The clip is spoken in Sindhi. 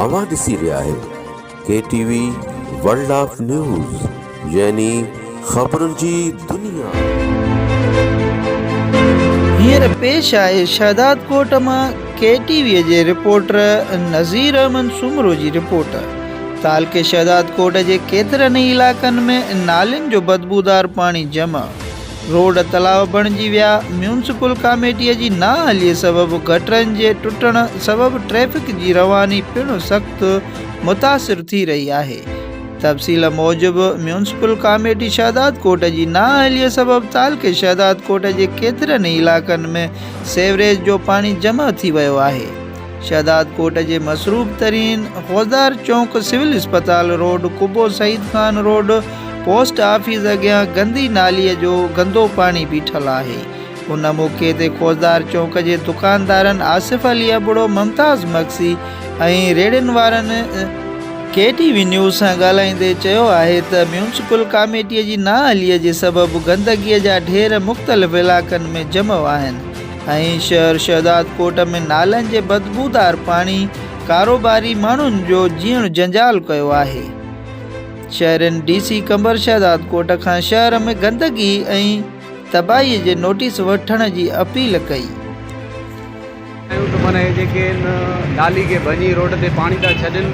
اوهان ڏسي رهيا آهيو K T V world of news يعني خبرن جي دنيا. هينئر پيش آهي شهدادڪوٽ مان ڪي ٽي وي جي رپورٽر نظير احمد سومرو جي رپورٽ. تعلقي شهدادڪوٽ جي ڪيترن ئي علائقن ۾ نالين جو بدبودار پاڻي جمع. روڊ تلاء بڻجي ويا، ميونسپل ڪاميٽي جي نااهلي سبب گٽرن جي ٽٽڻ سبب ٽريفڪ جي رواني پڻ سخت متاثر ٿي رهي آهي. تفصيل موجب ميونسپل ڪاميٽي شهدادڪوٽ جي نااهلي سبب تعلقي شهدادڪوٽ جي ڪيترن ئي علائقن ۾ سيوريج جو پاڻي جمع ٿي ويو آهي. شهدادڪوٽ جي مصروف ترين فوجدار چونڪ، سول اسپتال road, Qubo Saeed Khan road, post office اڳيان گندي نالي جو گندو پاڻي بيٺل آهي. ان موقعي تي فوجدار چونڪ جي دڪاندارن آصف علي ابڙو، ممتاز مگسي ۽ ريڙهين وارن ڪي ٽي وي نيوز سان ڳالهائيندي چيو آهي ته ميونسپل ڪاميٽي جي نااهلي جي سبب گندگي جا ڍير مختلف علائقن ۾ جمع آهن، ۽ شهر شهدادڪوٽ ۾ نالن جي بدبودار پاڻي ڪاروباري ماڻهن جو جيئڻ جنجال ڪيو آهي. شهرين ڊي سي قمبر شهدادڪوٽ کان شهر ۾ گندگي ۽ تباهي جي نوٽيس وٺڻ جي اپيل ڪئي. چيو ته معنيٰ هي جيڪي هن نالي کي ڀڃي روڊ تي پاڻي ٿا ڇڏين.